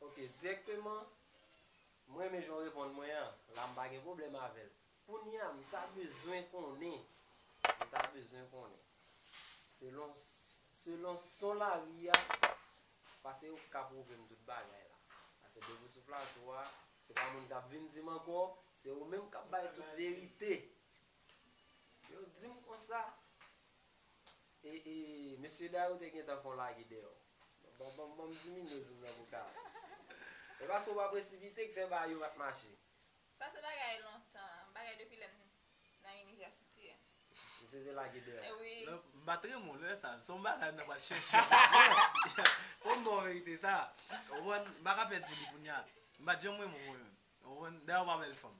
Ok direkteman m renmen jan w reponn mwen an la m pa gen pwoblèm avè l kounya m ta bezwen konnen m ta bezwen konnen selon selon son lari a pase ou ka pwouve m tout bagay la pase depi w sou plato a se pa moun k ap vin di m ankò se ou menm k ap bay tout verite yo di m konsa E e mesye da yo te gentan fon lage deyò. Bon bon bon diminye zoom nan pou Carl. E paske ou pa presipite k fè bagay yo pat mache. Sa se bagay lontan, bagay depi lèm nan inivèsite. Misye te lage deyò. E wi. M pat renmen w lè sa, son bagay m ta pral chèche m pat wè w. Fò m ba w verite sa. Ou konprann? M pa ka pèdi li kounya. M pat janm renmen w mwen menm. Ou konprann? Dayè ou pa bèl fanm.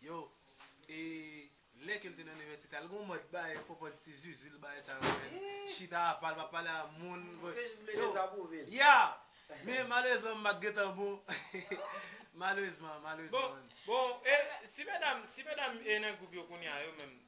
Yo, e lè ke l te nan inivèsite a, l gen yon mòd bay pòpòz ti zuzu l bay sa yo menm, chita apa, l pa pale a moun, yo, ya! Men malerezman m pa t gen tan bon, malerezman, malerezman. Bon, bon, e si medam, si medam e nan gwoup yo kounya yo menm?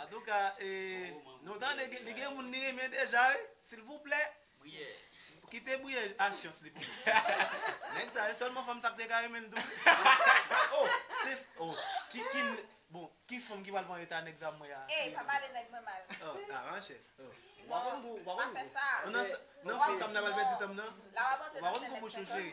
Antouka nou tande li gen moun li renmen deja wi silvouplè kite briye a chans li pou nou nèg sa se sèlman fanm sa ki te ka renmen l tou bon ki fanm ki pral pran eta nèg sa mwen an ey pa pale nèg mwen mal non pa fè sa nan fanm sa m nan pral pèdi tan m nan ou pa konn kou bouch ou cheri.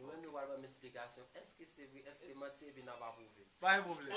Nou menm nou pral banm esplikasyon eske se vre eske manti epi nap apwouve. Pa gen pwoblem.